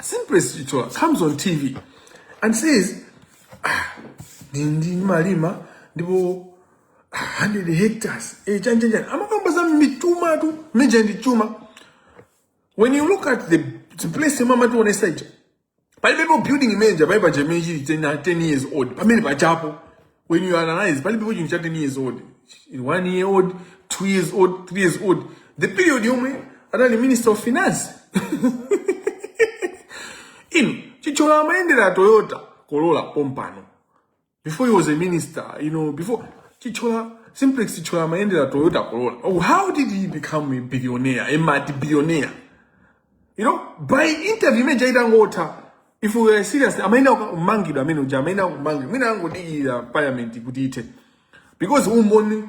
Simplest Chitola comes on TV and says, ah, ndindi malima ndipo ah, 100 hectares eh, chani chani chani amakamba za mituma tu mija ndi chuma when you look at the, the place imwe amatiwonesa ija palibepo building imene ija palibe chimene chili 10 10 years old pamene pajapo when you analyze palibepo chinthu cha 10 years old one year old two years old three years old the period yomwe anali minister of finance inu chithyola amayendera toyota corolla pompano before he was a minister you know before chithyola simplex chithyola amayendera toyota corolla oh, how did he become a billionaire a multi billionaire you know by interview imene ija itangotha if we were serious amayenera kumangidwa amene uja amayenera kumangidwa mwina angodikira parliament kuti ithe because umboni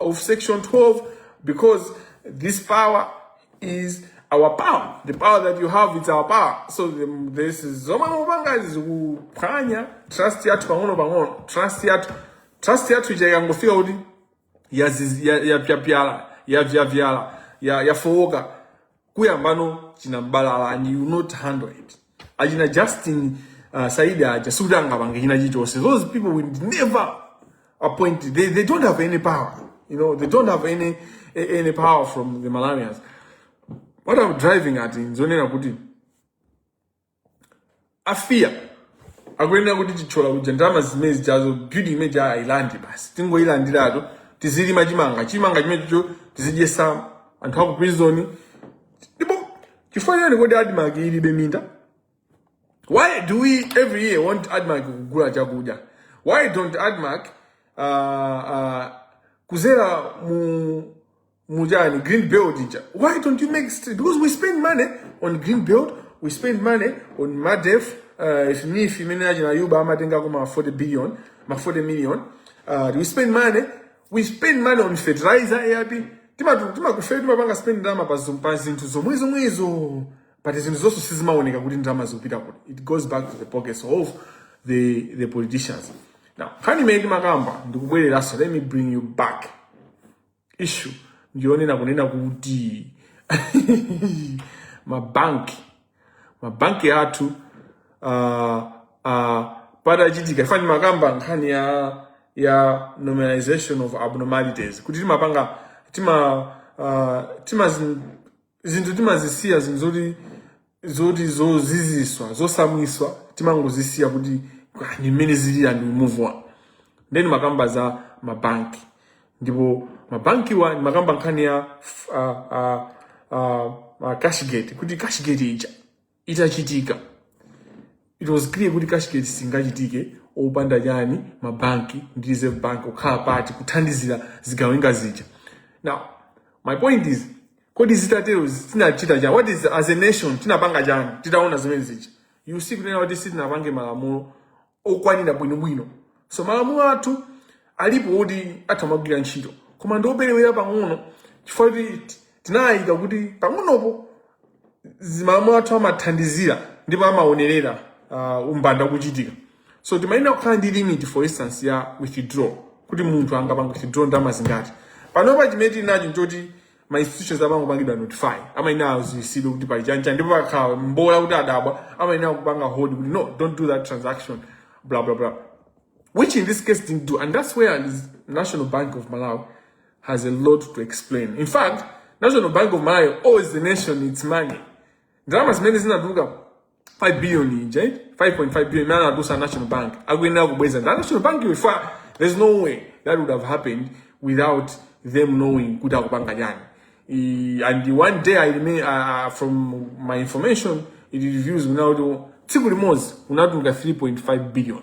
of section 12 because this power is our power the power that you have is our power so the, this is zomwe mukupanga zikuphwanya trust yathu pang'ono pang'ono trust yathu trust yathu ija ikangofika kuti yaziz- ya- yapyapyala yavyapyala ya- yafowoka kuyambano china mbalala and you not handle it achina justin uh, saidi aja sikuti angapange china chilichonse those people will never appoint they, they don't have any power you know they don't have any, any power from the malawians what i'm driving at nzonena kuti a fia akuyenera kuti chithyola kuja ndalama zimene zijazo building imene ija ailande basi tingoyilandiratu tizilima chimanga chimanga chimenecho tizidyesa anthu aku prison ndipo chifukwa chani kodi admarc ilibe minda why do we every year want admarc kugula chakudya why don't admarc uh, uh, kuzera mu Mujani, green belt ija. Why don't you make street? Because we spend money on green belt, we spend money on MADEF, uh, if me, if you mean Ajina Yuba, I'm think I'm 40 billion, my 40 million. Uh, we spend money, we spend money on fertilizer, AIP. Tima tima kufe tima banga spend ndama pa zumpa zintu zomwe zomwe izo. But izo zoso sizima oneka kuti ndama zupita kuti. It goes back to the pockets of the the politicians. Now, kani meki makamba, ndikubwele laso, let me bring you back. issue ndiyonena kunena kuti mabanki mabanki athu uh, uh, patachitika fa- ndimakamba nkhani ya ya normalization of abnormalities kuti timapanga tima uh, tima zin- zinthu timazisiya zinthu zoti zoti zoziziswa zosamwiswa timangozisiya kuti "Ah, ndi mmene zilili and we move on ndiye ndimakamba za mabanki ndipo mabankiwa ndimakamba nkhani ya uh, uh, uh, uh, cashgate kuti cashgate ija itachitika it was clear kuti cashgate singachitike opanda chani mabanki ndi reserve bank kukhala part kuthandizira zigawenga zija now my point is kodi zitatero tinachita chani what is as a nation tinapanga chani titaona zimene zija you see kunena kuti sitinapange malamulo okwanira bwinobwino so malamulo athu alipo kuti atamagwira ntchito koma ndioperewera pang'ono chifukwa kuti tinayika kuti pang'onopo malamulo athu amathandizira ndipo amaonerera uh, umbanda kuchitika so timayenera kukhala ndi limit for instance ya withdraw kuti munthu angapange withdraw ndalama zingati panopa chimene tili nacho nchoti ma institutions amangopangidwa notify amayenera aziwisidwe kuti pali chancha ndipo pakhala mbola kuti adabwa amayenera kupanga hold kuti no don't do that transaction blah blah blah which in this case didn't do and that's where the national bank of malawi has a lot to explain. In fact, National Bank of Malawi owes the nation its money. Ndalama zimene zinatuluka 5 billion ija, 5.5 billion imene anatulutsa National Bank akuyenera kubweza. Ndi National Bank if there's no way that would have happened without them knowing kuti akupanga chani. I- And one day I remain, uh, from my information it reveals now tsiku limodzi kunatuluka 3.5 billion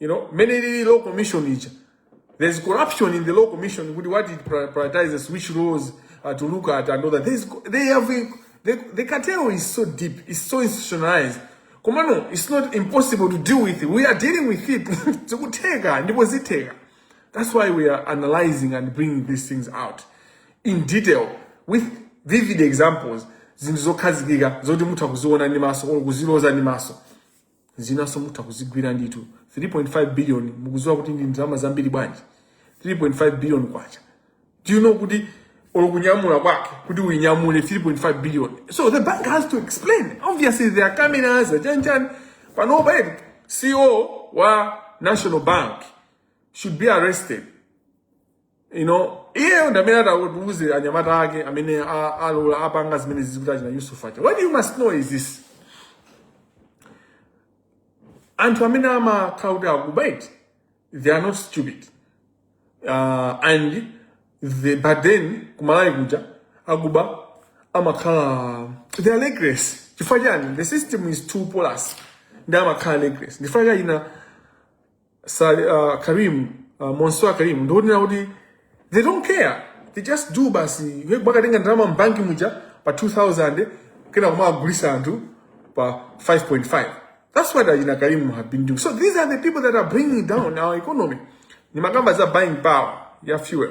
you know mmene ilili law commission ija there's corruption in the law commission kuti what it pri- prioritizes which laws uh, to look at and all that there's, co- they have a, the, the cartel is so deep it's so institutionalized koma no it's not impossible to deal with it we are dealing with it zikutheka ndipo zitheka that's why we are analyzing and bringing these things out in detail with vivid examples zinthu zokhazikika zoti mutha kuziona ndi maso or kuziloza ndi maso zinanso mutha kuzigwira ndithu 3.5 billion mukuziwa kuti ndi ndalama zambiri bwanji 3.5 billion kwacha do you know kuti olo kunyamula kwake kuti uinyamule 3.5 billion so the bank has to explain obviously there are cameras chanichani panopa eti ceo wa national bank should be arrested you know iyeyo ndamene atatiuze anyamata ake amene a- alola apanga zimene zizi kuti achina yusuf aja what you must know is this anthu amene amakhala kuti akuba eti they are not stupid uh, and the but then ku Malawi kuja akuba amakhala they are reckless chifukwa chani the system is too porous ndi amakhala reckless ndi chifukwa cha achina Sali, uh, Karim uh, Mansoor Karim ndikunena kuti they don't care they just do basi iwe kumakatenga ndalama mbanki muja pa 2000 kenako kumakagulisa anthu pa 5.5 that's what achina Karim have been doing so these are the people that are bringing down our economy ndimakamba za buying power ya fuel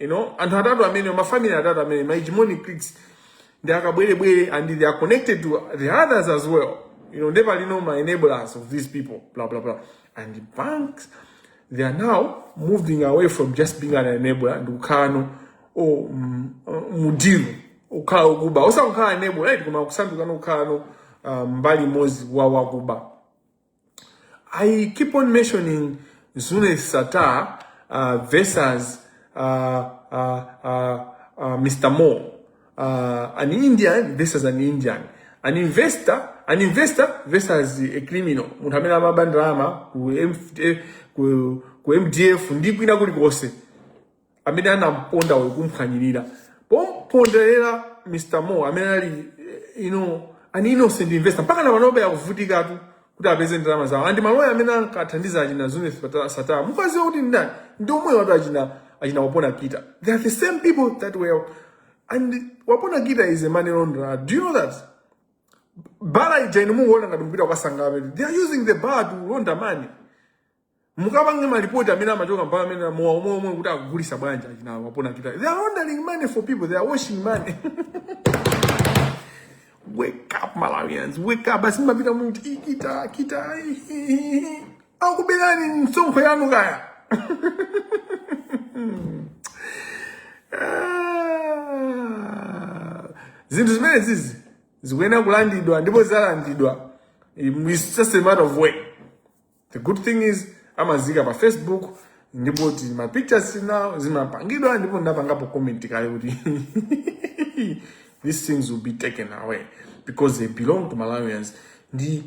you know anthu atatu amene mafamily atatu amene ma hegemonic cliques ndi akabwerebwere and they are connected to the others as well you know never know ma enablers of these people blah blah blah and the banks they are now moving away from just being an enabler ndi kukhala now o mm, uh, mudiru ukhala okuba osakukhala enabler right koma kusanduka now kukhala now uh, mbali imodzi wa wakuba I keep on mentioning Zune Sata uh, versus uh, uh, uh, uh, Mr. Mo, uh, an Indian versus an Indian, an investor, an investor versus a criminal. Munthu amene amaba ndalama ku MF ku ku MDF ndi kwina kulikonse. amene anamponda uyu kumphwanyirira pomponderera mr mo amene ali eh, you know, an innocent investor mpaka na panobe akuvutikatu kuti apeze ndalama zawo and maloya amene ankathandiza achina Zuneth Sattar mukuziwa kuti ndani ndi omwewatu achina achina wapona kita they are the same people that were and wapona kita is a money launderer do you know that bala ija inu mumangoona ngati kopita kukasangalala they are using the bar to launder money mukapange malipoti amene amachoka mu bar amene mowa omwe omwe kuti akugulisa bwanja achina wapona kita they are laundering money for people they are washing money wake up malawians wake up basi mapita muti kita kita akuberani msonkho yanu kaya Ah. zinthu zimene zizi zikuyenera kulandidwa ndipo zizalandidwa it's just a matter of when the good thing is amaziika pa facebook ndipo ma pictures now zimapangidwa ndipo ndapangapo comment kale kuti these things will be taken away because they belong to malawians ndi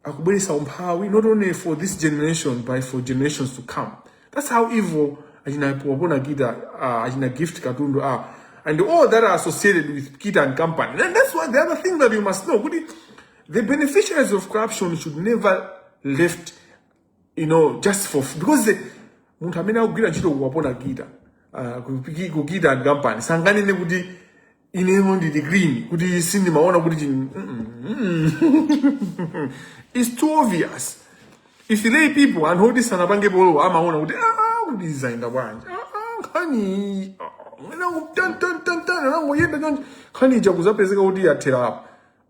akubweresa umphawi not only for this generation but for generations to come that's how evil achina wapona kita uh, achina gift katundu are and all that are associated with kita and company and that's why the other thing that you must know kuti The beneficiaries of corruption should never be left, you know, just for because the munthu amene akugwira ntchito kwa wapona kita uh, kupiki- kita and company sanganene kuti ineyo ndili green kuti sindimaona kuti chini- mm, mm, mm. it's too obvious if lay people anthu oti sanapange po law amaona kuti "Ah, kuti zaenda bwanji Ah, ah, nkhani ah, mwina ku- tan- tan- tan- tan, anangoyenda chonchi nkhani ija kuzapezeka kuti yathera apa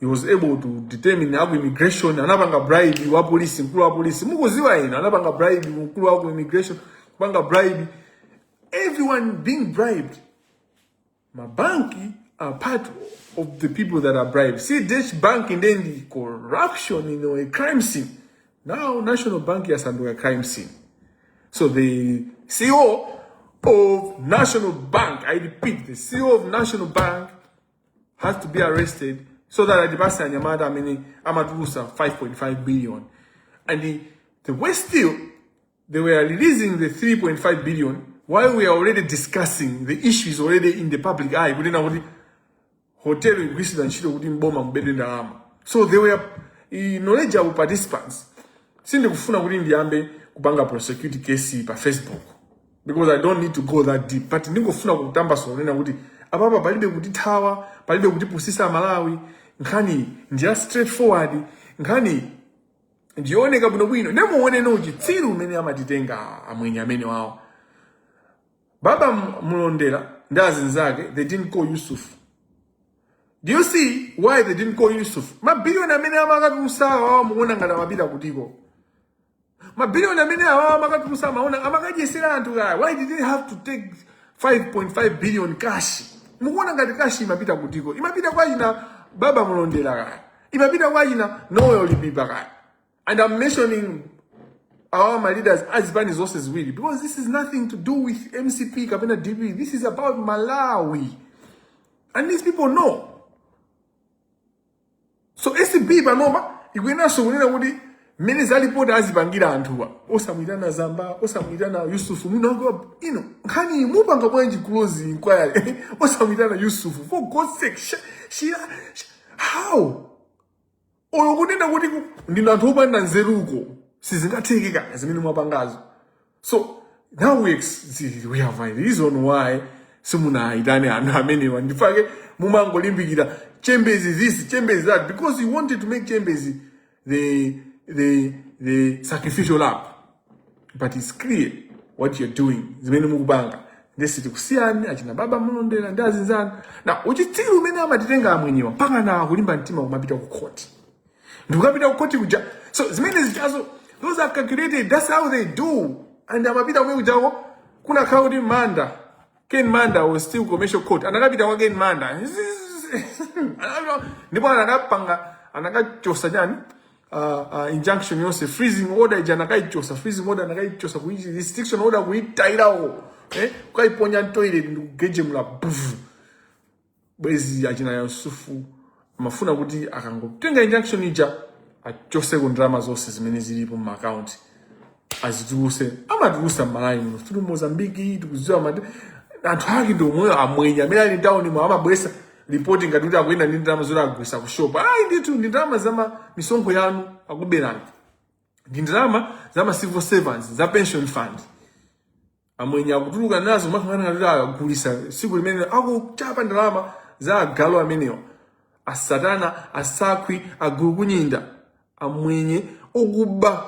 he was able to determine aku immigration anapanga bribe wa police mkulu wa police mukuziwa ino anapanga bribe mkulu wa ku immigration kupanga bribe everyone being bribed mabanki are part of the people that are bribed see this bank and then the corruption you know a crime scene now national bank yasanduka crime scene so the ceo of national bank i repeat the ceo of national bank has to be arrested so that atipatse anyamata amene amatulusa 5.5 billion and the, the worst still they were releasing the 3.5 billion while we are already discussing the issue is already in the public eye kunena kuti hotel ikugwiritsidwa ntchito kuti mboma mubedwe ndalama so they were i- knowledgeable participants sindikufuna kuti ndiyambe kupanga prosecute case pa facebook because i don't need to go that deep but ndingofuna kutambasula kunena kuti apapa palibe kutithawa palibe kutipusisa amalawi nkhani ndiya straightforward nkhani ndioneka bwinobwino nde muone uchitsiru umene amatitenga amwenye amene wawo baba mulondera ndi azinzake they didn't call yusuf do you see why they didn't call yusuf mabiliyoni amene amakatulusa awawa mukuona ngati amapita kutiko mabiliyoni amene awawa amakatulusa amaona amakadyesera anthu kaya why did they have to take 5.5 billion cash mukuona ngati cash imapita kutiko imapita kwa ina baba mulondera kaya imapita kwa ina noel lipipa kaya and i'm mentioning our ma leaders azipani zonse ziwiri because this is nothing to do with mcp kapena dpp this is about malawi and these people know so acb panopa ikuyenanso kunena kuti mmene za lipoti azipangira anthuwa osamuyitana zamba osamuyitana yusufu mwinanso ino nkhani mupanga bwanji close inquiry osamuyitana yusufu for god sake sh- shira sh- how olo kunena kuti ku- ndinu anthu opanda nzeruko sizingatheke ayi zimene mwapangazo so now we, ex- we have a reason why simunaitane anthu amenewa ndifake mumangolimbikira chembezi this chembezi that because you wanted to make chembezi the, the, the sacrificial lamb but it's clear what you're doing zimene mukupanga nde sitikusiyani achina baba mulondera ndi azinzanu na uchitsiru umene amatitenga amwenyewa mpaka na kulimba mtima kumapita ku khoti ndikukapita kukoti kuja so zimene zichazo those are calculated that's how they do and amapita kumene kujako kunakhala kuti manda ken manda was still commercial court anakapita kwa ken manda Anakapita- ndipo anakapanga anakachosa chani uh, uh, injunction yonse freezing order ija anakaichosa freezing order anakaichosa kuichi restriction order kuitairawo eh? ukaiponya m'toilet ndikugejemula bvu bwezi achina Yusufu amafuna kuti akangotenga injunction ija achose ku ndalama zonse zimene zilipo mu account azituluse amatulusa m'malawi muno through mozambiki tikuziwa mati anthu ake ndi omweyo amwenye amene ali town mu amabwesa ripoti ngati kuti akuyenda ndi ndalama zoti agulisa ku shop ayi ndithu ndi ndalama za ma- misonkho yanu akuberani ndi ndalama za ma civil servants za pension fund amwenye akutuluka nazo makhangana ngati agulisa siku limene akuchapa ndalama za agalu amenewa asatana asakhwi agulukunyinda amwenye okuba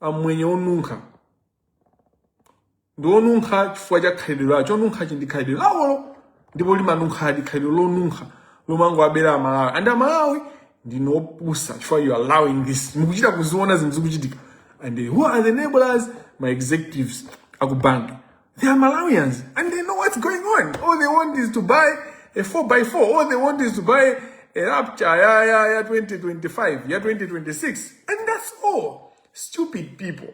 amwenye onunkha ndi onunkha chifukwa cha khalidwe lawo chonunkhachi ndi khalidwe lawolo ndipo limanunkhadi khalidwe lonunkha lomangowabera amalawi and amalawi ndinu opusa chifukwa you allowing this mukuchita kuziona zinthu zikuchitika and who are the enablers ma executives akubanki they are malawians and they know what's going on all they want is to buy a 4 by 4 all they want is to buy a raptor ya, ya, ya 2025 ya 2026 and that's all stupid people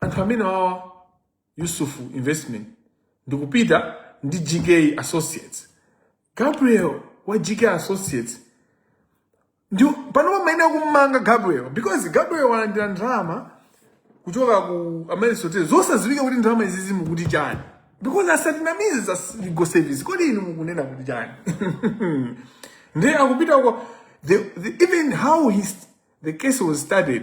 Anthu amenewawa Yusuf Investment ndikupita ndi GK Associates. Gabriel wa GK Associates ndi panopa amayenera kummanga Gabriel because Gabriel walandira ndalama kuchoka ku Amaryllis Hotel zosadziwika kuti ndalama izizi mukuti chani because asatinamize za legal service kodi inu mukunena kuti chani ndiye akupita uko the, the, even how his, the case was started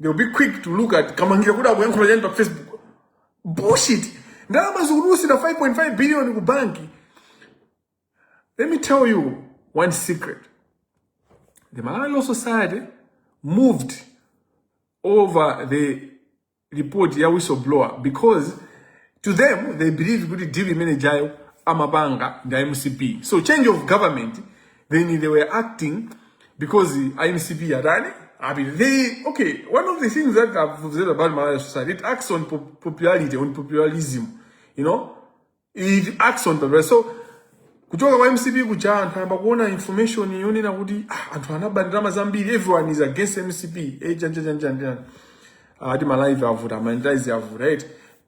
They'll be quick to look at Kamangila kuti akuyankhula chani pa Facebook. Bullshit. Ndalama zikutulusidwa 5.5 billion ku banki. Let me tell you one secret. The Malawi Law Society moved over the report ya whistleblower because to them they believe kuti deal imene ijayo amapanga ndi a mcp so change of government then they were acting because a MCP atani I mean, they, okay, one of the things that I've observed about Malawi Law Society, it acts on pop popularity, on popularism, you know? It acts on popularity. So, kuchoka kwa MCP kuja anthu ayamba kuona information yonena kuti ah, anthu anaba ndalama zambiri everyone is against MCP eh, janjanjanjanjan ati ah, ma live avuta Amaryllis avuta right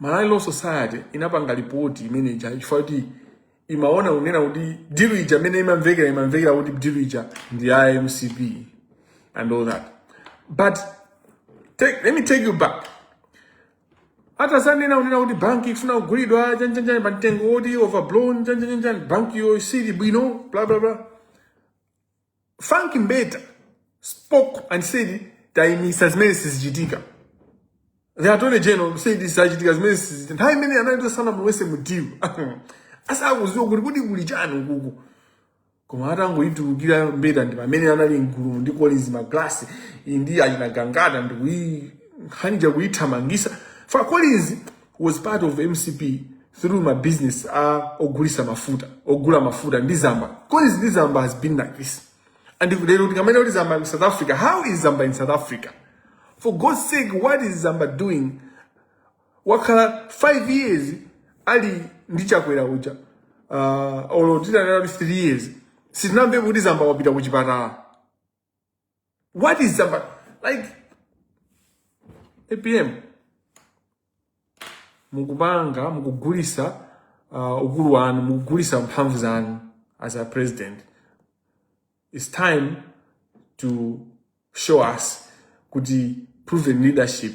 Malawi Law Society inapanga lipoti imene ija chifukwa kuti imaona kunena kuti dilu ija imene imamvekera imamvekera kuti dilu ija ndi ya mcp and all that but take, let me take you back atazanena kunena kuti banki ikufuna kugulidwa chani chani pa mtengo woti overblown chani chani chani banki iyo isili bwino bla bla bla Frank Mbeta spoke and said taimisa zimene sizichitika. The attorney general said sizachitika zimene sizichitika. Nthawi imene anali asanamulowese mu deal. Asakuziwa kuti kuti kuli chani ukuku. Koma atangoitulukira Mbeta ndi pamene anali mgulu ndi Collins Magalasi ndi achina Gangata ndi kuyi nkhani ja kuyithamangisa. For Collins was part of mcp through ma business a ogulisa mafuta ogula mafuta ndi zamba Collins ndi zamba has been like this and if lero tikamva kuti zamba in south africa how is zamba in south africa for god's sake what is zamba doing wakhala 5 years ali ndi chakwera uja uh, olo titanena kuti 3 years sitinamvepo kuti zamba wapita ku chipatala What is the like APM mukupanga mukugulisa uh, ukulu wanu mukugulisa mphamvu zanu as a president it's time to show us kuti proven leadership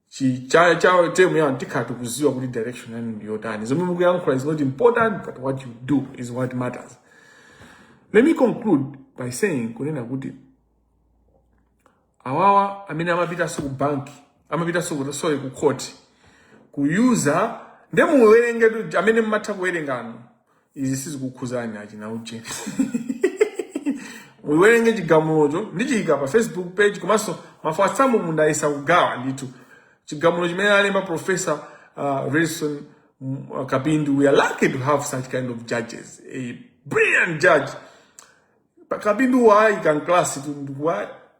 chi cha cha term yanu tikhala tikuziwa kuti direction yanu ndi yotani zomwe mukuyankhula is not important but what you do is what matters let me conclude by saying kunena kuti awawa amene amapitanso ku banki amapitanso ku sorry ku court kuyuza nde muwerengetu amene mumatha kuwerenganu izi sizikukhuzani achina ujeni muyiwerenge chigamulocho ndichiyika pa facebook page komanso ma WhatsApp mu ndayesa kugawa ndithu chigamulo chimene alemba professor uh, Redson mm, uh, Kapindu we are lucky to have such kind of judges a brilliant judge Pa- Kapindu wayi kan class tu ndikuwa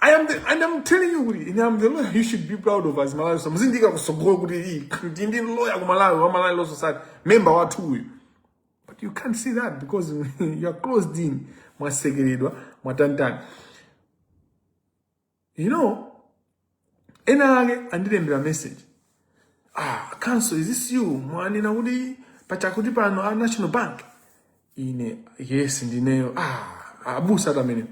I am the, and I'm telling you kuti ine am the lawyer you should be proud of as Malawi so muzindikira kusogolo kuti iyi ndi ndi lawyer ku Malawi wa Malawi Law Society member wathu uyu but you can't see that because you are closed in mwasekeredwa mwatanitani you know ena ake andilembera message ah counsel is this you mwanena kuti pachakuti pano a national bank ine yes ndineyo ah abusa tamene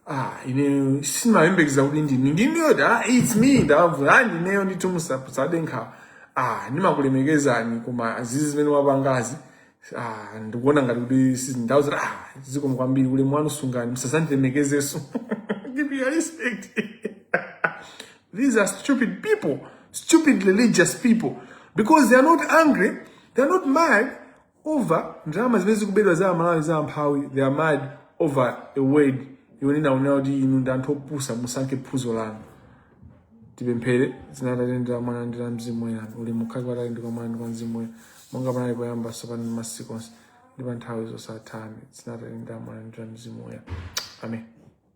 ah ine simayembekeza kuti ndinu ndinuyo da it's me ndabvu ah ndineyo nditumusa sadenkha ah ndimakulemekezani koma izizi zimene mwapangazi Ah, ndikuona ngati kuti si- ndau zoti ah, zikomo kwambiri ulemu wanu sungani musazandilemekezenso keep your respect These are stupid people, stupid religious people, because they are not angry, they are not mad over ndalama zimene zikubedwa za aMalawi za amphawi, they are mad over a word yonena kunena kuti inu ndi anthu opusa musankhe phunzo lanu. tipemphere dzina la Atate ndi la mwana ndi la mzimu woyera ulemu ukhale kwa Atate ndi kwa mwana ndi kwa mzimu woyera monga panali poyamba tsopano ndi masiku onse ndi pa nthawi zosatha amen dzina la Atate ndi la mwana ndi la mzimu woyera amen